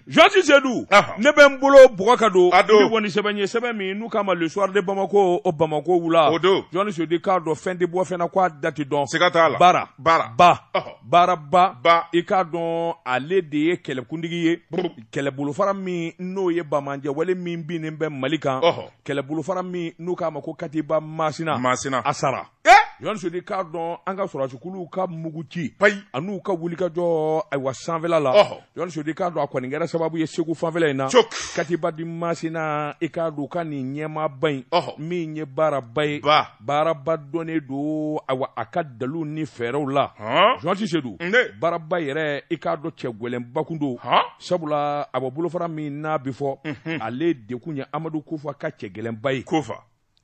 Janti sedu ne bɛ n bolo bɔgɔ ka don ni kɔni sɛbɛn ye sɛbɛn min n'u k'a ma le soir de bamako o bamako wula o don janti sedu i k'a dɔn fɛn tɛ bɔ fɛn na k'a da ti dɔn siga t'a la baaraba baaraba i k'a dɔn ale de ye kɛlɛkuntigi ye kɛlɛbolofara min n'o ye banbaanciwale min binnen bɛ mali kan kɛlɛbolofara min n'u k'a ma ko katiba masina masina a sara janti sedu i k'a dɔn an ka sɔrɔdasikuluw ka mugu ci payi an'u ka wulikajɔ ayiwa sanfɛla la janti sedu i k'a dɔn a kɔni kɛra sababu ye segu fanfɛla in na katiba di masina i k'a dɔn ka nin ɲɛmaaba in min ye baaraba ye baaraba dɔnnen don ayiwa a ka dalu ni fɛɛrɛw la janti sedu baaraba yɛrɛ i k'a dɔn cɛ gɛlɛnba kun don sabula a bɔ bolofara min n'a bɛ fɔ ale de kun ye amadu kufa ka cɛ gɛlɛnba ye kufa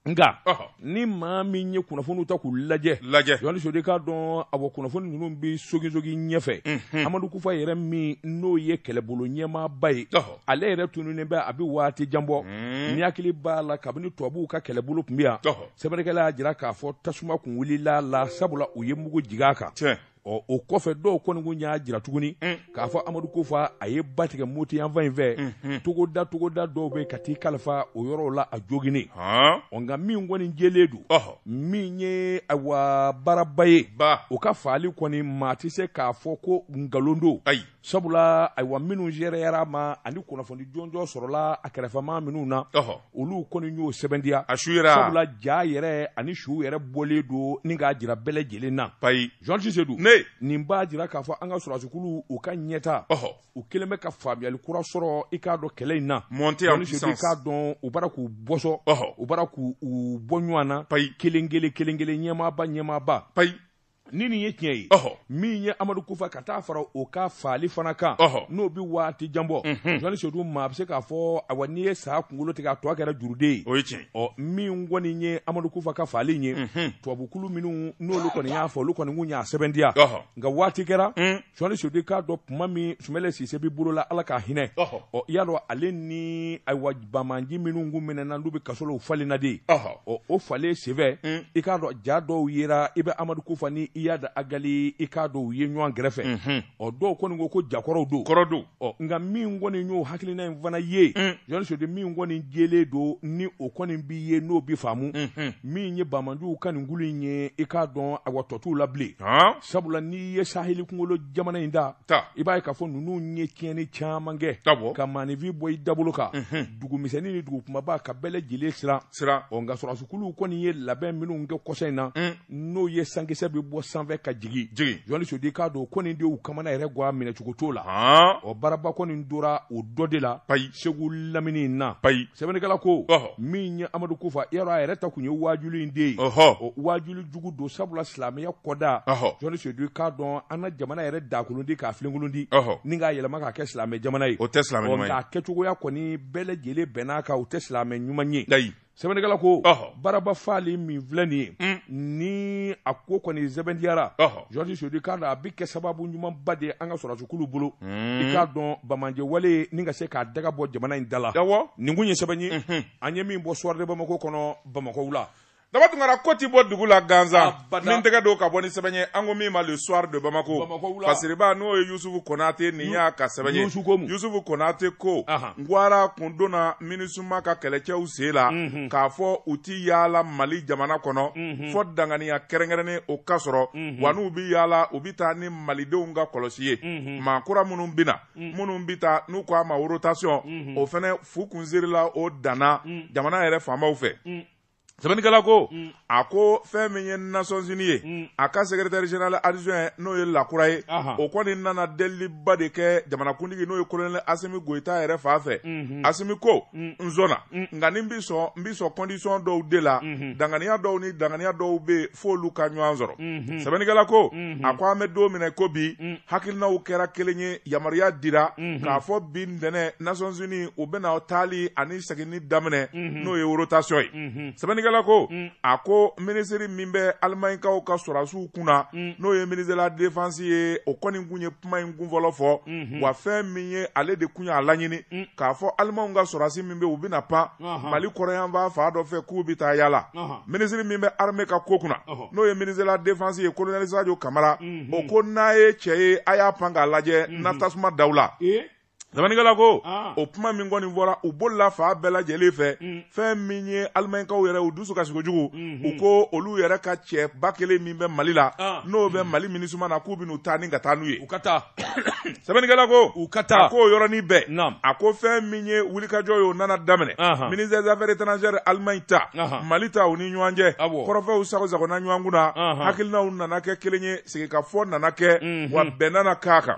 nka ni maa min ye kunnafoniw ta k'u lajɛ lajɛ janti sedu i k'a dɔn awa kunnafoni ninnu bɛ sogisogi ɲɛfɛ mhm. amadu kufa yɛrɛ min n'o ye kɛlɛbolo ɲɛmaaba ye ale yɛrɛ tununnen bɛ a bɛ waati jan bɔ mhm. n'i hakili b'a la kabini tubabuw ka kɛlɛbolo tun bɛ yan sɛbɛnnikɛla y'a jira k'a fɔ tasuma kun wulil'a la sabula u ye mugu jigin a kan ɔ o kɔfɛ dɔw kɔni kun y'a jira tuguni k'a fɔ amadu kufa a ye ba tigɛ moti yanfan in fɛ togoda togoda dɔw bɛ ka t'i kalifa o yɔrɔw la a joginen ɔ nka min kɔni jɛlen don min ye ayiwa baaraba ye o ka faali kɔni maa tɛ se k'a fɔ ko nkalon don sabula ayiwa minnu gɛrɛyara a ma ani kunnafoni jɔnjɔn sɔrɔla a kɛrɛfɛmaa minnu na olu kɔni y'o sɛbɛntiya a su yɛrɛ sabula ja yɛrɛ ani su yɛrɛ bɔlen don ni k'a jira bɛɛ lajɛlen na payi janti sedu nin b'a jira k'a fɔ an ka sɔrɔdasikulu u ka ɲɛta u kɛlen bɛ ka faamuyali kura sɔrɔ i k'a dɔn kɛlɛ in na montée en puissance i k'a dɔn u b'a ra k'u bɔsɔ u b'a ra k'u bɔ ɲɔgɔn na payi kelen kelen kelen kelen ɲɛmaaba ɲɛmaaba payi ni nin ye tiɲɛ ye min ye amadu kufa ka taa fara o ka faali fana kan n'o bɛ waati jan bɔ mhm. janti sedu maa bɛ se k'a fɔ awa n'i ye sa kunkolo tigɛ a tɔ kɛra juruden ye o ye tiɲɛ ɔ min kɔni ye amadu kufa ka faali ye mhm. tubabukulu minnu n'olu kɔni y'a faa olu kɔni kun y'a sɛbɛntiya nka waati kɛra mm. janti sedu i k'a dɔn kuma min sumayila sise bɛ bolo la ala ka hinɛ ɔ i y'a dɔn ale ni ayiwa banbaanci minnu kun minɛna n'u bɛ kaso la u falenna de ɔ o falen senfɛ mm. i k'a dɔn ja dɔw yera i bɛ amadu kufa ni iyadi agali i k'a dɔn u ye ɲɔgɔn kɛrɛfɛ mm-hmm. ɔ dɔw kɔni ko ko ja kɔrɔw don kɔrɔ don ɔ nka min kɔni y'o hakilina in fana ye mm. janti sedu min kɔni jɛlen don ni o kɔni bi ye n'o bi faamu mm-hmm. min ye banbaanciw ka nin kulu in ye i k'a dɔn ayiwa tɔ t'u la bilen sabula n'i ye saheli kunkolo jamana in ta i b'a ye k'a fɔ ninnu ye tiɲɛni caman kɛ ka maaninfin bɔ i dabolo kan mhm. dugumisɛnnin ni dugu kumaba ka bɛɛ lajɛlen siran siran ɔ nka sɔrɔdasukuluw kɔni ye labɛn minnu kɛ kɔsa in na mm. n'o ye sankisɛ bɛ bɔ sanfɛ ka jigin jigin jɔni sedu k'a dɔn ko nin de y'u kamana yɛrɛ gwan minɛcogo t'o la ɔ baraba kɔni tora o dɔ de la segu lamini in na payi sɛbɛnnikɛla ko ɔhɔ min ye amadu kufa yɔrɔ a yɛrɛ ta kun ye waajuli in de ye ɔhɔ o waajuli jugu don sabula silamɛya kɔda ɔhɔ jɔni sedu k'a dɔn an ka jamana yɛrɛ dakolondi k'a filenkolondi ɔhɔ ni k'a yɛlɛma k'a kɛ silamɛ jamana ye o tɛ silamɛ ɲuman ye nka kɛcogoya kɔni bɛɛ lajɛlen bɛnn'a kan o tɛ silamɛ ɲuman ye layi sɛbɛnnikɛla ko baraba faali min filɛ nin ye mm. ni a ko kɔni sɛbɛntiyara jɔni sedu k'a dɔn a bɛ kɛ sababu ɲumanba de ye an ka sɔrɔdasukulu bolo mm. i k'a dɔn banbaanci wale nin ka se k'a daga bɔ jamana in da la nin kun ye sɛbɛn ye mm-hmm. an ye min bɔ soir de bamako kɔnɔ bamako wula daba tunkara ko tɛ bɔ dugu la gansan min tɛgɛ don ka bɔ ni sɛbɛn ye an ko min ma le soir de Bamako Fasiriba n'o ye Yusufu Konate nin y'a ka sɛbɛn ye Yusufu Konate ko garan kun donna Minusima ka kɛlɛcɛw sen la k'a fɔ u tɛ yaala Mali jamana kɔnɔ fɔ danganiya kɛrɛnkɛrɛnnen o ka sɔrɔ wa n'u bɛ yaala u bɛ taa ni Malidenw ka kɔlɔsi ye maa kura minnu bɛ na minnu bɛ taa n'u k'a ma rotation o fɛnɛ fu kun sirila o dan na jamana yɛrɛ faamaw fɛ. sɛbɛnnikɛla ko mm. a ko fɛn min ye nasɔnsini ye mm. a ka secrétaire général adjoint n'o ye Lacroix ye o kɔni nana deliba de kɛ jamanakuntigi n'o ye kolonɛli asimi goyita yɛrɛ fan fɛ mm-hmm. asimi ko mm. n sɔnna nka ni n bi sɔn n bi sɔn kɔndisɔn dɔw de la mm-hmm. danganiya dɔw ni danganiya dɔw bɛ f'olu ka ɲɔgɔn sɔrɔ mm-hmm. sɛbɛnnikɛla ko a ko an bɛ don min na i ko bi hakilinaw kɛra kelen ye yamaruya dira k'a fɔ bi ntɛnɛ nasɔnsini u bɛna taali ani seginni daminɛ mhm. n'o ye rotation ye mhm. sɛbɛnnikɛla ko mm. a ko minisiri min bɛ alimaɲikaw ka sɔrɔdasiw kunna mm. n'o ye ministre de la défense ye o kɔni kun ye kuma in kun fɔlɔ fɔ mhm. wa fɛn min ye ale de kun y'a laɲini mm. k'a fɔ alimanw ka sɔrɔdasi min bɛ u bɛna pan mali kɔrɔnyanfan fan dɔ fɛ k'u bɛ taa yaala minisiri min bɛ arme ka ko kunna n'o ye ministre de la défense ye kolonɛli sajo kamara o ko n'a ye cɛ ye a y'a pan k'a lajɛ n na tasuma d'aw la Sɛbɛnnikɛla ko ah. o kuma min kɔni fɔra o bolila fan bɛɛ lajɛlen fɛ mm. fɛn min ye alimaɲikaw yɛrɛ u dusu kasi kojugu mm-hmm. u ko olu yɛrɛ ka cɛ ba kelen min bɛ mali la ah. n'o bɛ mali minusima na k'u bɛn'u ta ni ka taa n'u ye u ka taa sɛbɛnnikɛla ko u ka taa a k'o yɔrɔnin bɛɛ a ko fɛn min ye wulikajɔ ye o nana daminɛ ministère des affaires étrangères alimaɲi ta mali ta u ni ɲɔgɔn cɛ kɔrɔfɛw sago sagona ɲɔgɔn kun na hakilinaw nana kɛ kelen ye sigikafɔ nana kɛ mm-hmm. wa bɛn nana k'a kan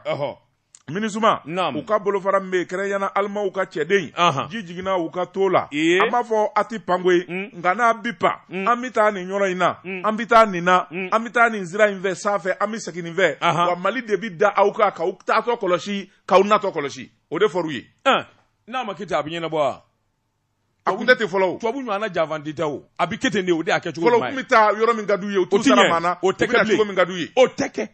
minisuma u ka bolofara min bɛ yen kɛrɛnkɛrɛnnenya la alimanw ka cɛden ji jiginna u ka to la an m'a fɔ a tɛ pan koyi mm. nka n'a bi pan mm. an bɛ taa nin yɔrɔ in na mm. an bɛ taa nin na an bɛ taa nin sira in fɛ sanfɛ an bɛ segin nin fɛ wa mali de bɛ da aw kan k'aw taatɔ kɔlɔsi k'aw natɔ kɔlɔsi o de fɔr'u ye n'a ma kɛ ten a bɛ ɲɛnabɔ wa a kun tɛ ten fɔlɔ o tubabu ɲɔgɔnna janfanci tɛ o a bɛ kɛ ten de o de y'a kɛ cogo ye fɔlɔ u tun bɛ taa yɔrɔ min ka d'u ye u t'u sara maa na u bɛ na cogo min ka d'u ye o tɛ kɛ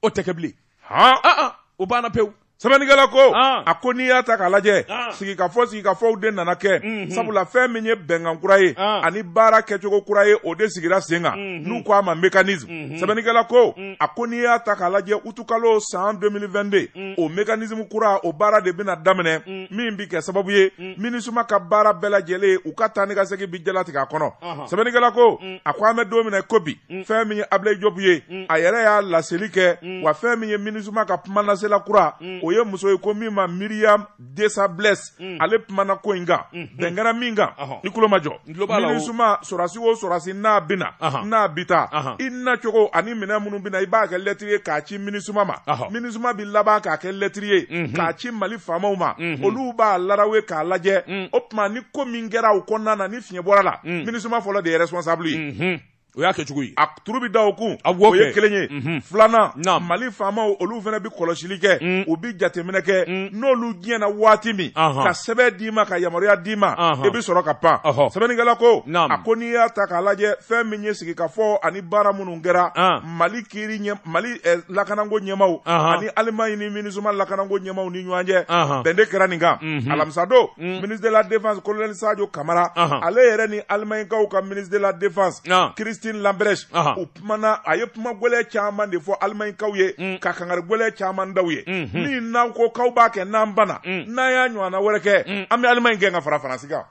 o tɛ kɛ bilen han ah, ah, o banna pewu sɛbɛnnikɛla ko ah. a ko n'i y'a ta k'a lajɛ sigikafɔ sigikafɔw de nana kɛ mhm. sabula fɛn min ye bɛnkan kura ye ani baara kɛcogo kura ye o de sigira sen kan mhm. n'u ko a ma mécanisme mhm. sɛbɛnnikɛla ko mm. a ko n'i y'a ta k'a lajɛ utukalo san 2022 mm. o mécanisme kura o baara de bɛna daminɛ mm. min bɛ kɛ sababu ye minisuma ka baara bɛɛ lajɛlen u ka taa ni ka segin bi jalatigɛ a kɔnɔ sɛbɛnnikɛla ko mm. a ko an bɛ don min na ko bi mm. fɛn min ye abulayi jobu ye mm. a yɛrɛ y'a laseli kɛ wa fɛn min ye minisuma ka kumalasela kura o ye muso ye ko min ma myriam dessables ale kumana ko in kan bɛn kɛra min kan i tulo majɔ sɔrɔsi o sɔrɔsi n'a bɛ na n'a bi taa i nacogo ani minɛn minnu bɛ na i b'a kɛ lɛtiri ye k'a ci minisuma ma minisuma bɛ laban k'a kɛ lɛtiri ye mhm. k'a ci mali faamaw ma mhm. olu b'a laraw ye k'a lajɛ mhm. o tuma ni ko min kɛra o kɔnɔna na ni fiɲɛ bɔr'a la minisuma fɔlɔ de ye responsable ye o y'a kɛ cogo ye a turu bɛ da o kun a o ye kelen ye mhm. filanan mali faamaw olu fana bɛ kɔlɔsili kɛ mm. u bɛ jateminɛ kɛ mm. n'olu diɲɛna waati min ka sɛbɛn d'i ma ka yamaruya d'i ma i bɛ sɔrɔ ka pan sɛbɛnnikɛla ko a ko n'i y'a ta k'a lajɛ fɛn min ye sigikafɔ ani baara minnu kɛra mali kiri ɲɛ mali eh, lakananko ɲɛmaw uh -huh. ani alimaɲi ni minisuma lakananko ɲɛmaw ni ɲɔgɔn cɛ uh -huh. bɛn de kɛra nin kan mm -hmm. alamisa don mm -hmm. ministre de la défense colonel sadio kamara uh -huh. ale yɛrɛ ni alimaɲikaw ka ministre de la défense uh -huh. christine lambrecht uh -huh. u kumana a ye kuma gwɛlɛ caman de fɔ alimaɲikaw ye mm -hmm. ka kangari gwɛlɛ caman da u ye mm -hmm. ni n'aw ko k'aw b'a kɛ n'an banna mm -hmm. n'an y'a ɲɔgɔnna wɛrɛ kɛ mm -hmm. an bɛ alimaɲi gɛn ka fara faransi kan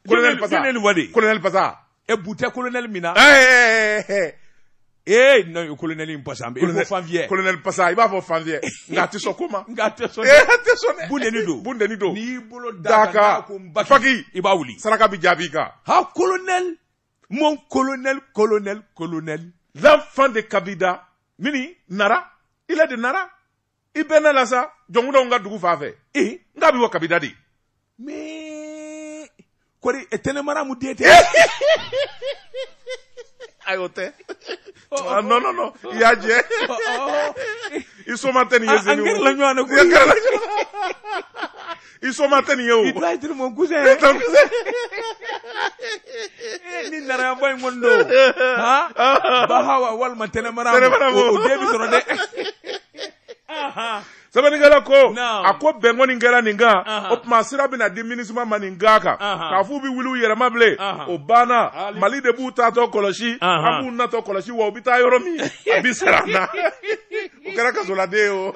colonel pasa colonel pasa e bu tɛ kolonɛli min na ee non o kolonɛli in pasa an bɛ i ko fanfiyɛ kolonɛli pasa i b'a fɔ fanfiyɛ nka a tɛ sɔn ko ma nka a tɛ sɔn dɛ a tɛ sɔn dɛ bundeni don bundeni don n'i y'i bolo d'a kan ko n baki faki i b'a wuli saraka bɛ jaabi kan ha kolonɛli mon kolonɛli kolonɛli kolonɛli l'enfant de kabida mini nara il est de nara i bɛnn'a la sa jɔnkundaw ka dugu fan fɛ i nka a bɛ bɔ kabida de mais kɔri tɛnɛ maramu den tɛ ayi o tɛ ah, non non non i y'a jɛ i somaa tɛ nin ye zeni an kɛrɛla ɲɔgɔn na koyi i soma tɛ nin ye o. i t'a jiri mon cousin. i t'a kusɛ. ni narayabɔ in kɔni don. bahawa walima tɛnɛmara. tɛnɛmara mɔ o den bi sɔrɔ dɛ. sɛbɛnnikɛla ko a ko bɛn kɔni kɛra nin kan o tuma sira bɛna di minisima ma nin kan kan k'a f'u bɛ wuli u yɛrɛma bilen o banna mali de b'u taatɔ kɔlɔsi an b'u natɔ kɔlɔsi wa u bɛ taa yɔrɔ min a bɛ sara an na. o kɛra kasoladen ye o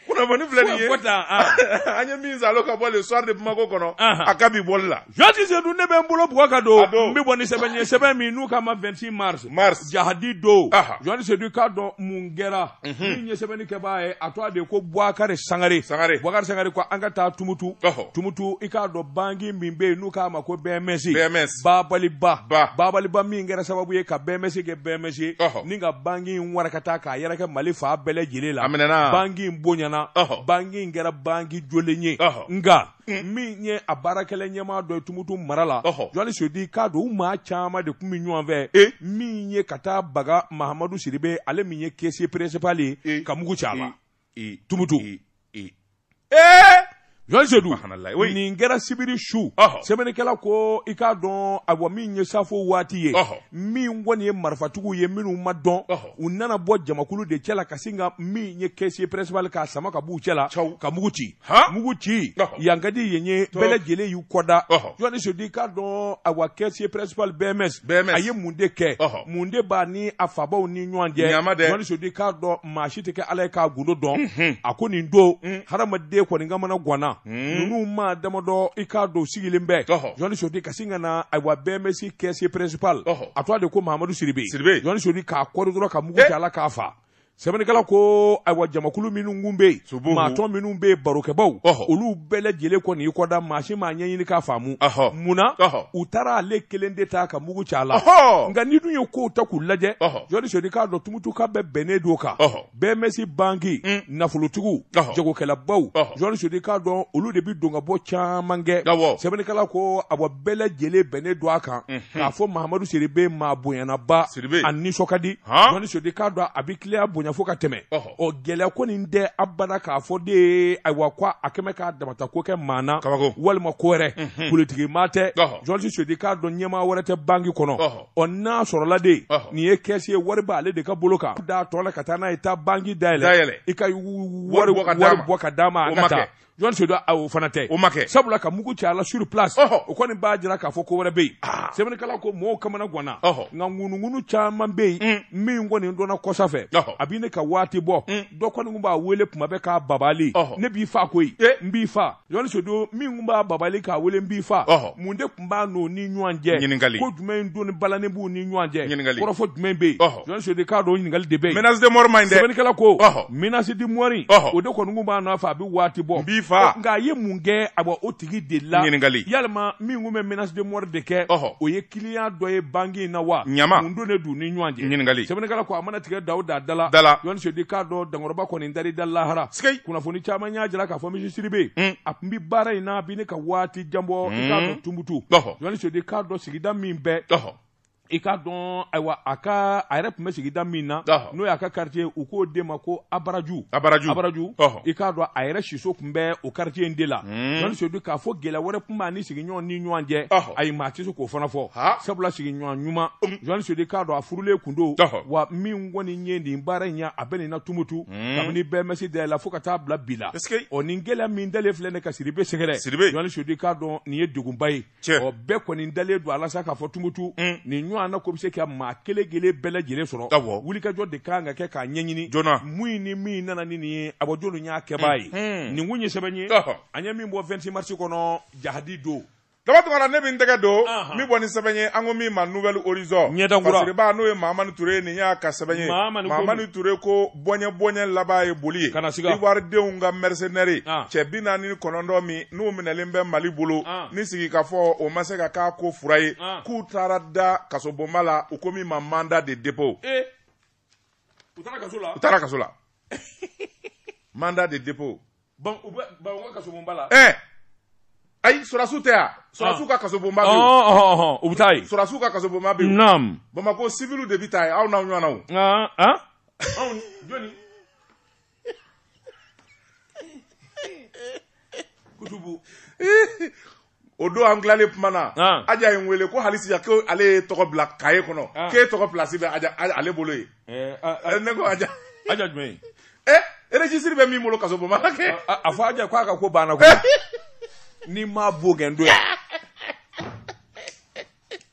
kunnafoni filɛ nin ye ah. an ye min salo ka bɔ le soir de bamako kɔnɔ a ka bi bɔli la jɔni sedu ne bɛ n bolo bugɔ ka don n bɛ bɔ ni sɛbɛn ye sɛbɛn min n'u k'a ma 26 mars mars jahadi don jɔni sedu i k'a dɔn mun kɛra mhm. min ye sɛbɛnni kɛbaa ye a tɔgɔ de ko buwakari sangare sangare buwakari sangare ko an ka taa tumutu tumutu i k'a dɔn banki min bɛ yen n'u k'a ma ko bms bms babali ba ba. babali ba min kɛra sababu ye ka bms kɛ bms Ɔhɔ. ni ka banki in warakata k'a yɛrɛkɛ mali fan bɛɛ lajɛlen la A minɛna. banki in bonyana Ɔhɔ. banki in kɛra banki jɔlen ye Ɔhɔ. nka min ye a baarakɛla ɲɛmaa dɔ ye tumutu mara la Ɔhɔ. jɔni sedu k'a dɔn u maa caman de tun bɛ ɲɔgɔn fɛ E. min ye ka taa baga mahamadu siribe ale min ye caissier principal E. ye ka mugu ci a la tumutu jɔni sedu nin kɛra sibiri su sɛbɛnnikɛla ko i k'a dɔn awa min ye safo waati ye min kɔni ye marifatigiw ye minnu ma dɔn u nana bɔ jamakulu de cɛ la ka sin ka min ye caissier principal k'a sama ka b'u cɛ la ka mugu ci mugu ci yan ka di yen ye bɛɛ lajɛlen y'u kɔda jɔni sedu k'a dɔn awa caissier principal bms a ye mun de kɛ mun de b'a ni a fabaw ni ɲɔgɔn cɛ jɔni sedu k'a dɔn maa si tɛ kɛ ala ye k'a gundo dɔn mhm. a kɔni don mm. hadamaden kɔni kamanagwanna mm. ninnu maa damadɔ i k'a dɔn sigilen bɛ jɔni sedu ka sin ka na awa bms caissier principal a tɔgɔ de ko mahamadu siribe jɔni sedu k'a koori dɔrɔn ka mugu kɛ eh. a la k'a fa sɛbɛnnikɛla ko ayiwa jamakulu minnu kun bɛ yen Sobow. maatɔn minnu bɛ yen barokɛbaw Ɔhɔ. olu bɛɛ lajɛlen kɔni y'i kɔda maa si m'a ɲɛɲini k'a faamu Ɔhɔ. munna Ɔhɔ. u taara ale kelen de ta ka mugu ci a la Ɔhɔ. nka n'i dun ye kow ta k'u lajɛ Ɔhɔ. jɔni sedu k'a dɔn tumutuka bɛɛ bɛnnen don o kan Ɔhɔ. bms banki Mm. nafolotigiw Ɔhɔ. jagokɛlabaw Ɔhɔ. jɔni sedu k'a dɔn olu de bɛ don ka bɔ caman kɛ Awɔ. sɛbɛnnikɛla ko awa bɛɛ lajɛlen bɛnnen don a kan k'a fɔ mahamadu siribe maa bonyanaba Siribe. a nisɔn ka di jɔni sedu k'a dɔn a bɛ kiliyan bonya fo ka tɛmɛ ɔ gɛlɛya ko nin tɛ abada k'a fɔ de ye ayiwa ko a kɛmɛ k'a damata ko kɛ maa na walima ko wɛrɛ mhm. politiki maa tɛ jɔni sedu k'a dɔn ɲɛmaa wɛrɛ tɛ banki kɔnɔ ɔ n'a sɔrɔla de nin ye caissier ye wari b'ale de ka bolo kan d'a tɔn na ka taa n'a ye taa banki dayɛlɛ i ka wari bɔ ka d'a ma an ka taa jɔn sedu a o fana tɛ o ma kɛ sabula ka mugu ci a la sur place o kɔni b'a jira k'a fɔ ko wɛrɛ bɛ yen ah. sɛbɛnnikɛla ko mɔgɔw kamana ganna nka ŋunuŋunu caman bɛ yen mm. min kɔni dɔnna kɔsa fɛ a bɛ ne ka waati bɔ mm. dɔ kɔni tun b'a wele tuma bɛɛ k'a babali ne b'i fa koyi eh. n b'i fa jɔn sedu min tun b'a babali k'a wele n b'i fa mun de n b'a n'o ni ɲɔgɔn cɛ ɲininkali ko jumɛn in doni balanen b'u ni ɲɔgɔn cɛ ɲininkali kɔrɔfɔ jumɛn bɛ yen jɔn sedu k'a dɔn ɲininkali de bɛ yen menace de mort man ɲi dɛ sɛbɛnnikɛla ko menace de mort o de kɔni kun b'a nɔfɛ a bɛ waati bɔ n b'i faa nka a ye mun kɛ a bɔ o tigi de la ɲininkali yalima min kun bɛ menace de mort de kɛ o ye client dɔ ye banque in na wa ɲama mun don de d'u ni ɲɔgɔn cɛ ɲininkali sɛbɛnnikɛla ko a mana tigɛ daw da dala dala jɔn sedu k'a dɔn dankɔrɔba kɔni dari da lahara kunnafoni caman y'a jira k'a fɔ monsieur siribe a tun bɛ baara in na a bɛ ne ka waati jan bɔ i k'a dɔn tumutu jɔn sedu k'a dɔn sigida min bɛɛ i k'a dɔn ayiwa a ka a yɛrɛ tun bɛ sigida min na n'o y'a ka quartier u k'o de ma ko abaraju abaraju abaraju i k'a dɔn a yɛrɛ siso tun bɛ o quartier in de la jɔn sedu k'a fɔ gɛlɛya wɛrɛ tun b'a ni sigiɲɔgɔn ni ɲɔgɔn cɛ ayi maa tɛ se k'o fana fɔ sabula sigiɲɔgɔn ɲuman jɔn sedu k'a dɔn a furulen tun don wa min kɔni ye nin baara in ye a bɛ nin na tumutu Hmm. kabini BMS dala fo ka taa bila bi la ɔ nin gɛlɛya min dalen filɛ ne ka siribe sɛgɛrɛ siribe jɔn sedu k'a dɔn nin ye degunba ye ɔ bɛɛ kɔni dalen don a la sa k'a fɔ tumutu hmm. nin ɲɔgɔn na ko bɛ se ka maa kelen kelen bɛɛ lajɛlen sɔrɔ wulikajɔ de kan ka kɛ k'a ɲɛɲini joona mun ni min nana ni nin ye a bɔ jɔnw y'a kɛbaa ye hmm. nin kun ye sɛbɛn ye an ye min bɔ 26 marisi kɔnɔ jahadi don Daba Tunkara ne bɛ n tɛgɛ don min bɔ ni sɛbɛn ye an ko min ma nouvel horizon ɲɛdaba n'o ye Mahamani Ture nin y'a ka sɛbɛn ye Mahamani Ture ko bɔɲɛ bɔɲɛ laban ye boli ye ivoiridenw ka mercenaires cɛ bi naani ni kɔnɔntɔn min n'u minɛlen bɛ Mali bolo ni sigikafɔ o ma se ka k'a ko fura ye k'u taara da kasobonba la u ko min ma mandat de dépôt u taara kaso la mandat de dépôt Bon, u bɛ bon, u ka kasobonba la. Ɛɛ. Ayi sɔrɔdasiw tɛ yan. Sɔrɔdasiw ah. ka kasobonba bɛ yen. Ɔhɔn ah, ɔhɔn ah, u bɛ taa yen. Sɔrɔdasiw ka kasobonba bɛ yen. Naam. Bamakɔ civiliw de bɛ taa yen aw n'aw ɲɔgɔnnaw. Aa aa. Anw jɔni? Kutubu. o don an tilalen kuma na ah. aja ye n wele ko hali sisan ko ale y'e tɔgɔ bila kaye kɔnɔ ah. k'e tɔgɔ pilasi bɛ aja ale bolo yen eh, ah, eh, ne ko aja aja jumɛn eh registre bɛ min bolo kasobonba la kɛ a fɔ aja ko a ka ko banna ko n'i m'a bo gɛn don yan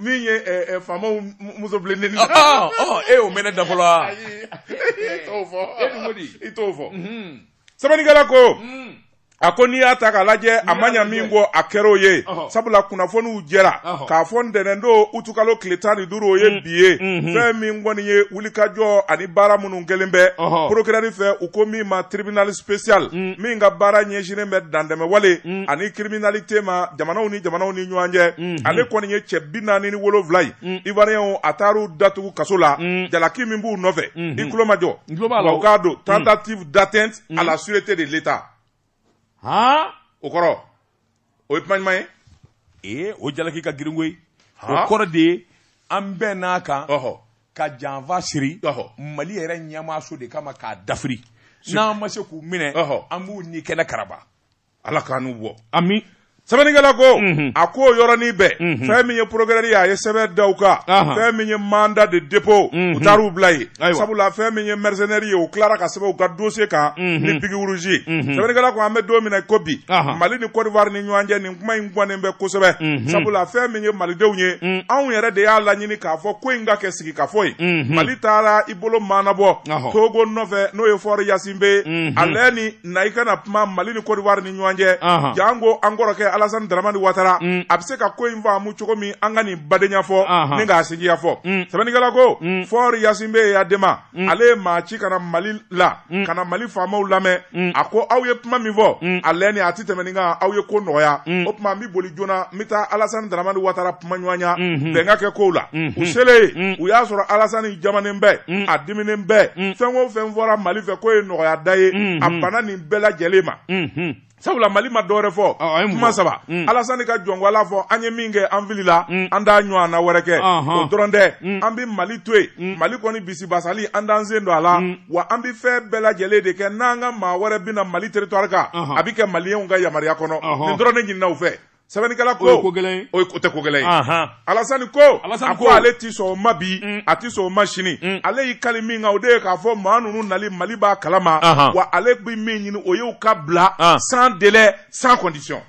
min ye eh, eh, faamaw muso bilenni na. Ah, ah, oh, e y'o mɛn ne da fɔlɔ wa. ayi i t'o fɔ. e dun ko di. i t'o fɔ. Mhm. sɛbɛnnikɛla ko. Mm. a ko n'i y'a ta k'a lajɛ a ma ɲa min kɔ a kɛr'o ye sabula kunnafoniw jɛra k'a fɔ ntɛnɛn don utukalo tile tan ni duuru o ye mm. bi ye mm-hmm. fɛn min kɔni ye wulikajɔ ani baara minnu kɛlen bɛ procureur fɛ u ko min ma tribunal spécial mm. min ka baara ɲɛsinnen bɛ dantɛmɛwale mm. ani criminalité ma jamanaw ni jamanaw ni ɲɔgɔn cɛ mhm. ale kɔni ye cɛ bi naani ni wolonwula ye mm. ivoirien a taar'u datugu kaso la mm. jalaki min b'u nɔfɛ mhm. i tulomajɔ wa u k'a dɔn mm. tentative d'atteinte à la sûreté de l'état o kɔrɔ o ye kuma ɲuman ye ee o jalaki ka girin koyi o kɔrɔ de ye an bɛɛ n'a kan ka janfa siri mali yɛrɛ ɲɛmaaso de kama k'a dafiri n'an ma se k'u minɛ an b'u ni kɛnɛkaraba ala k'an n'u bɔ ami sɛbɛnnikɛla ko a ko yɔrɔnin bɛɛ fɛn min ye procureur ye a ye sɛbɛn da u kan fɛn min ye mandat de dépôt u taar'u bila yen sabula fɛn min ye mercenaire ye u tilara ka sɛbɛn u ka dossier kan ni biki rouge ye sɛbɛnnikɛla ko an bɛ don min na i ko bi mali ni kodiwari ni ɲɔgɔn cɛ nin kuma in gannen bɛ kosɛbɛ sabula fɛn min ye malidenw ye anw yɛrɛ de y'a laɲini k'a fɔ ko in ka kɛ sigikafɔ ye mali taara i bolo maanabɔ togo nɔfɛ n'o ye fɔri yasinbe ale ni na i kana kuma mali ni kodiwari ni ɲɔgɔn cɛ janko an kɔrɔkɛ alasani daramani watara mm. a bɛ se ka ko in faamu cogo min an ka nin badenya fɔ ni k'a sinjiya fɔ mm. sɛbɛnnikɛla ko mm. fɔri yasinbe yadema ale ye maa ci ka na mali la ka na mali faamaw lamɛn a ko aw ye kuma min fɔ a lɛni a tɛ tɛmɛ nin kan aw ye ko nɔgɔya o tuma n bɛ boli joona n bɛ taa alasani daramani watara kuma ɲɔgɔnya mhm. bɛn ka kɛ kow la mhm. u selen yen mhm. u y'a sɔrɔ alasani jamannen bɛ a diminen bɛ fɛn o fɛn fɔra mali fɛ k'o ye nɔgɔya da ye a banna nin bɛɛ lajɛlen ma sabula mali ma dɔwɛrɛ fɔ kuma saba mm. alasani ka jɔn ko ala fɔ an ye min kɛ an filila mm. an t'a ɲɔgɔnna wɛrɛ kɛ o dɔrɔn tɛ mm. an bɛ mali to yen mali kɔni bisibasali an t'an sen don a la wa an bɛ fɛn bɛɛ lajɛlen de kɛ n'an ka maa wɛrɛ bɛna mali territoire kan a bɛ kɛ maliyɛnw ka yamaruya kɔnɔ nin dɔrɔn ne ɲinina u fɛ sɛbɛnnikɛla ko o ye ko gɛlɛn ye o ye ko tɛ ko gɛlɛn ye alasani ko a ko ale ti sɔn o ma bi mm. a ti sɔn o ma sini mm. ale y'i kali min kan o de ye k'a fɔ maa ninnu nali mali b'a kalama wa ale bɛ min ɲini o y'u ka bila ah. sans délai sans condition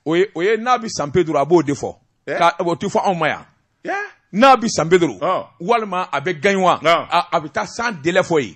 o ye o ye n'a bɛ san pedro a b'o de fɔ eh? ka o ti fɔ anw ma yan eh? n'a bɛ san pedro ah. walima a bɛ gagnoa ah. a bɛ taa sans délai fɔ yen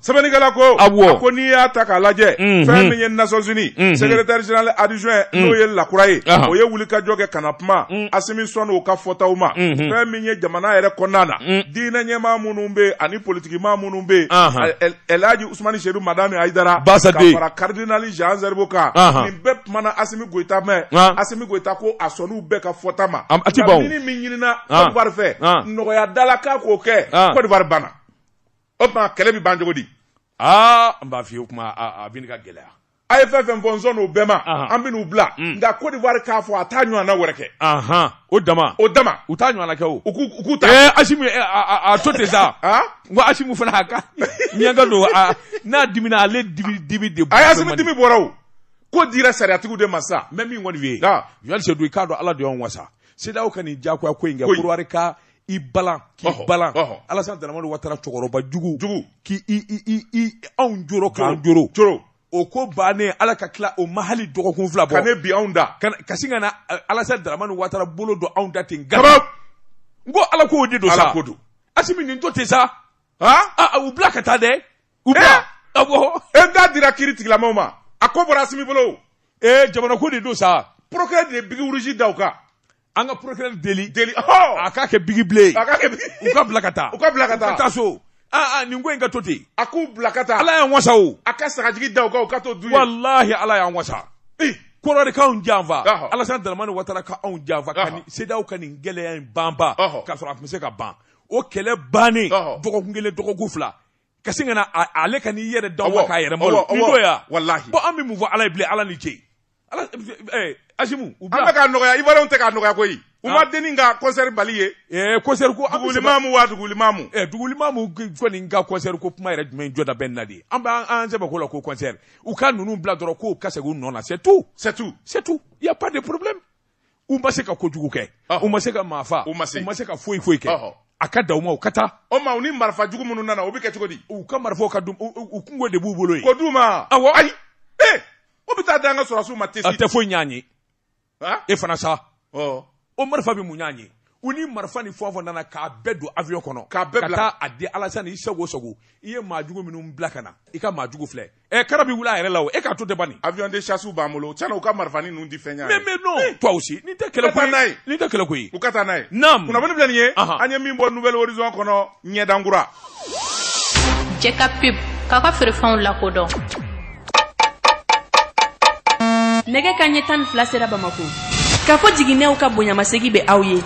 sɛbɛnnikɛla ko a ko n'i y'a ta k'a lajɛ mhm. fɛn min ye nations unies mhm. secrétaire général adjoint mhm. n'o ye Lacroix ye o ye wulikajɔ kɛ ka na kuma asimi sɔn o ka fɔtaw ma fɛn min ye jamana yɛrɛ kɔnɔna na diinɛ ɲɛmaa minnu bɛ yen ani politikimaa minnu bɛ yen elhaji usumani serifu madani ayidara ka fara karidinali jean zeribo kan nin bɛɛ kumana asimi goyita mɛn asimi goyita ko a sɔnn'u bɛɛ ka fɔta ma nka min ɲinina kɔdiwari fɛ nɔgɔyada la k'a k'o kɛ kɔdiwari banna o tuma kɛlɛ bɛ ban cogo di aa n b'a f'i ye o tuma a bɛ ka gɛlɛya a ye fɛn fɛn fɔ n sɔnn'o bɛɛ ma an bɛ n'u bila mm. nka Côte d'Ivoire k'a fɔ a t'a ɲɔgɔnna wɛrɛ kɛ o dama o dama u t'a ɲɔgɔnna kɛ o u k'u ta ɛɛ eh, Asimi eh, a to ten sa n ko Asimi fana a ka ɲɛnka don n'a dimina ale dimi dimi de bɔra a Asimi dimi bɔra o ko dira sariyatigiw de ma sa n bɛ min kɔni f'i ye Yali Sedu i k'a dɔn Ala de y'anw wasa CEDEAO ka nin diyagoya ko in kɛ Côte d'Ivoire ka i balan k'i balan alasana daramani watara cɛkɔrɔba jugu jugu k'i anw joro k'an joro joro o ko bannen ala ka tila o ma hali dɔgɔkun fila bɔ ka ne bi anw da ka sin ka na alasana daramani watara bolo don anw da ten gaba n ko ala k'o de don sa ko don asimi nin to ten sa aa u bila ka taa dɛ u bila awɔ e n'a dira kiritigɛla maaw ma a ko bɔra asimi bolo ee jamanako de don sa procureur de ye bigi rouge da u kan an ka procureur deli deli oh! a k'a kɛ bigi bleu a k'a kɛ u ka bila ka taa u ka bila ka taa ka taa so aa nin ko in ka to ten a k'u bila ka taa ala y'an wasa o a ka sagajigi da u kan u ka to du ye walahi ala y'an wasa kɔrɔ de k'anw janfa alasan dalamani watara ka anw janfa ka nin CEDEAO ka nin gɛlɛya in banba k'a sɔrɔ a tun bɛ se ka ban o kɛlɛ bannen dɔgɔkun kelen dɔgɔkun fila ka sin ka na ale ka n'i yɛrɛ d'aw ma k'a yɛrɛ malo nin don ya walahi bon an bɛ mun fɔ ala ye bilen ala ni ce ala ɛɛ asimu u bila an bɛ k'a nɔgɔya ivoirienw tɛ k'a nɔgɔya koyi u ma denni ka concert bali ye ɛɛ concert ko dugulimamu wa dugulimamu ɛɛ dugulimamu kɔni ka concert ko kuma yɛrɛ jumɛn jɔda bɛ nin na de an b'an sɛbɛ ko la ko concert u ka ninnu bila dɔrɔn k'u ka segin u nɔ na c'est tout c'est tout c'est tout il y a pas de problème u ma se ka kojugu kɛ u ma se ka maa faa u ma se ka foyi foyi kɛ a ka da u ma u ka taa o ma u ni marifa jugu minnu nana o bɛ kɛ cogo di u ka marifaw ka u kunko de b'u bolo yen k'o d'u ma awɔ ayi ee o bɛ taa da an ka sɔrɔsiw ma tesi a tɛ foyi ɲ'an ye e fana sa o marifa bɛ mun ɲ'an ye u ni marifa ni fɛn fɛn nana k'a bɛɛ don avion kɔnɔ ka taa a di alasani i sago sago i ye maa jugu minnu bila ka na i ka maa jugu filɛ ɛ kara bi wuli a yɛrɛ la o e k'a to ten bani avion de chasse b'an bolo tiɲɛ na u ka marifani ninnu di fɛn ɲa mais mais non eh. toi aussi nin tɛ kɛlɛ ko ye nin tɛ kɛlɛ ko ye u ka taa n'a ye naam kunnafoni filɛ nin ye an ye min bɔ nouvel horizon kɔnɔ ɲɛdankura jɛ ka pub k'aw ka feerefɛnw lakodɔn nɛgɛ kanɲɛ tan ni fila sera bamako k'a fɔ jiginnɛw ka bonyamasegi bɛ aw ye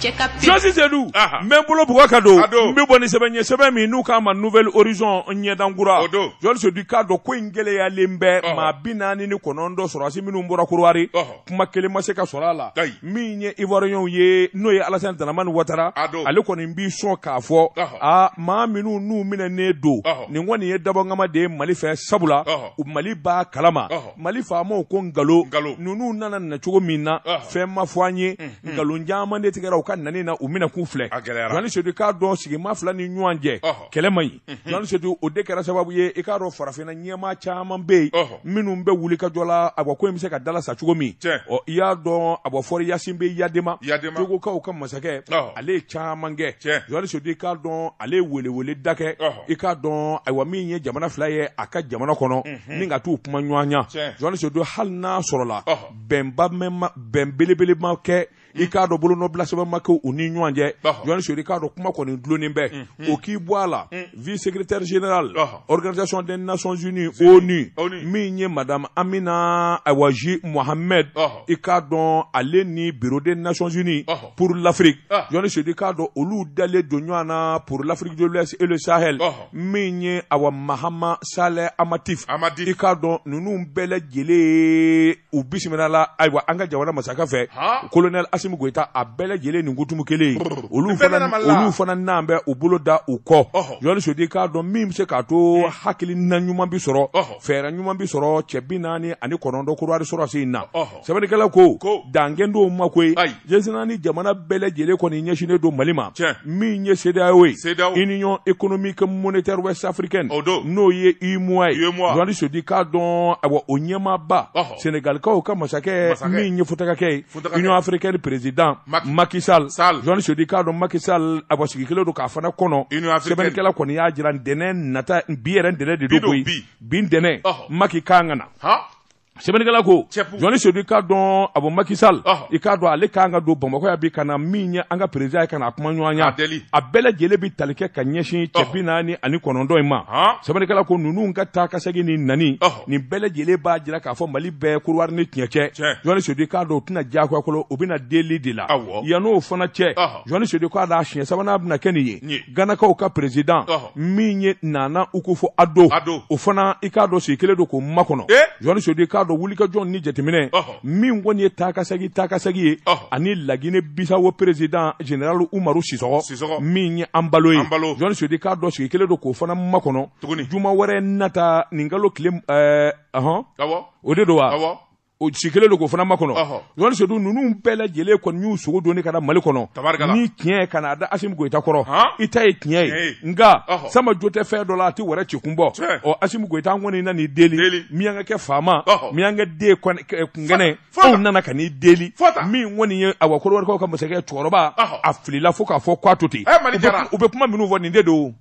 Jɔni Sedu n bɛ n bolo bugɔ ka don n bɛ bɔ ni sɛbɛn ye sɛbɛn min n'u k'a ma Nouvel Horizon ɲɛdankura Jɔni Sedu k'a dɔn ko in gɛlɛyalen bɛ maa bi naani ni kɔnɔntɔn sɔrɔdasi minnu bɔra Kodowari kuma kelen ma se ka sɔrɔ a la min ye ivoiriyɛnw ye n'o ye alasani daramani watara ale kɔni b'i sɔn k'a fɔ a maa minnu n'u minɛnen don nin kɔni ye dabɔnkama de ye mali fɛ sabula mali b'a kalama mali faamaw ko nkalon ninnu nana na cogo min na fɛn ma fɔ an ye mhm. nkalon caman de tigɛra u ka nani na u minɛ k'u filɛ jɔni sedu k'a dɔn sigima fila ni ɲɔgɔn cɛ kɛlɛ man ɲi Jɔni sedu o de kɛra sababu ye i k'a dɔn farafinna ɲɛmaa caman bɛ yen Ɔhɔ. minnu bɛ wuli ka jɔ la awa ko in bɛ se ka dala sa cogo min Tiɲɛ. ɔ i y'a dɔn awa Faure Gnassingbé Eyadéma Eyadéma. togokaw ka masakɛ Ɔhɔ. ale ye caman kɛ Tiɲɛ. Jɔni sedu i k'a dɔn ale ye weleweleda kɛ Ɔhɔ. i k'a dɔn ayiwa min ye jamana fila ye a ka jamana kɔnɔ ni ka t'u kumaɲɔgɔnya Tiɲɛ. Jɔni sedu hali n'a sɔrɔla Ɔhɔ. bɛnba mɛnma bɛn belebele ma kɛ i k'a dɔn bolonɔbila sɛbɛn ma kɛ u ni ɲɔgɔn cɛ jɔni sedu k'a dɔn kuma kɔni dulonnen bɛ mm-hmm. o k'i bɔ a la mm. vice secrétaire général organisation des nations unies onu min ye madame amina awa j mohamed i k'a dɔn ale ni bureau des nations unies pour l'afrique ah. jɔni sedu k'a dɔn olu dalen don ɲɔgɔn na pour l'afrique de l'ouest et le sahel min ye awa mahamat saleh annadif i k'a dɔn ninnu bɛɛ lajɛlen u bisimilala ayiwa an ka jamana masakɛ fɛ kolonɛli asimu goyita a bɛɛ lajɛlen nin kutumu kelen olu fana olu fana n'an bɛ u bolo da u kɔ jɔni sedu k'a dɔn min bɛ se k'a to hmm. hakilina ɲuman bi sɔrɔ fɛɛrɛ ɲuman bi sɔrɔ cɛ bi naani ani kɔnɔntɔn kodowari sɔrɔdasi in na sɛbɛnnikɛla ko dan kɛlen t'o ma koyi Diɲɛ seleke naani jamana bɛɛ lajɛlen kɔni ɲɛsinnen don Mali ma, tiɲɛ, min ye CEDEAO ye, CEDEAO, Union économique monétaire ouest africaine, o don, n'o ye UEMOA ye, UEMOA, Jɔni Sedu k'a dɔn awa o ɲɛmaaba, ɔhɔ, Senegalikaw ka masakɛ, masakɛ, min ye futakakɛ ye, futakakɛ, Union africaine président Macky, Macky Sall, Sall, Jɔni Sedu k'a dɔn Macky Sall awa sigi kɛlen don k'a fana kɔnɔ, Union africaine, sɛbɛnnikɛla kɔni y'a jira ntɛnɛn nata bi yɛrɛ ntɛnɛn de don koyi, bi don, bi, bi ntɛnɛn, ɔhɔ, Macky kan ka na. Han! sɛbɛnnikɛla ko jɔni sedu i k'a dɔn awa Macky Sall i k'a dɔn ale kan ka don bamakɔ yan bi ka na min ye an ka perezidan ye ka na a kumaɲɔgɔnya a bɛɛ lajɛlen bi tali kɛ ka ɲɛsin cɛ bi naani ani kɔnɔntɔn in ma sɛbɛnnikɛla ko ninnu ka taa ka segin ni nani nin bɛɛ lajɛlen b'a jira k'a fɔ mali bɛ kodowari ni tiɲɛ cɛ jɔni sedu i k'a dɔn u tɛ na diyagoya kɔnɔ u bɛ na deli de la yan'o fana cɛ jowani sedu k'a dɔn a siɲɛ sabanan bɛna kɛ nin ye ganakaw ka perezidan min ye nana akufo ado o fana i k'a dɔn sigi kelen don k'o makɔnɔ jowani sedu k'a dɔn wulikajɔ ni jateminɛ min kɔni ye taakasegi taakasegi ye ani lagine bisawo perezidan general umaru sisɔkɔ min ye anbalo ye jowani sedu k'a dɔn sigi kelen don k'o fana makɔnɔ juma wɛrɛ nata nin kalo tile ɛɛ eh, ɔhɔn o de don wa o sigi kelen don k'o fana makɔnɔ jowani sedu ninnu bɛɛ lajɛlen kɔni y'u sogo doni ka na mali kɔnɔ ni tiɲɛ ka na a da asimi goyita kɔrɔ i ta ye tiɲɛ ye nka sama jo tɛ fɛn dɔ la a tɛ wɛrɛ ci kun bɔ ɔ asimi goyita an kɔni nan'i deli miyankakɛ faama miyanka den kunkɛnɛ anw nana ka n'i deli min kɔni ye awa kɔdiwarikaw ka masakɛ cɛkɔrɔba a filila fo k'a fɔ k'a to ten u bɛ kuma minnu fɔ nin de don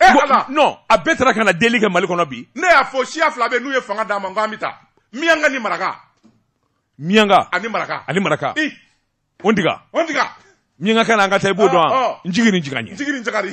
e ala non a bɛɛ taara ka na deli kɛ mali kɔnɔ bi ne y'a fɔ siya fila bɛ n'u ye fanga d'a ma n k'an bɛ taa miyanka ni maraka miyanka ani maraka ani maraka i on diga on diga miyankakan na an ka taa i b'o dɔn wa ah, ah. n jigin ni jigan ye jigin ni jigari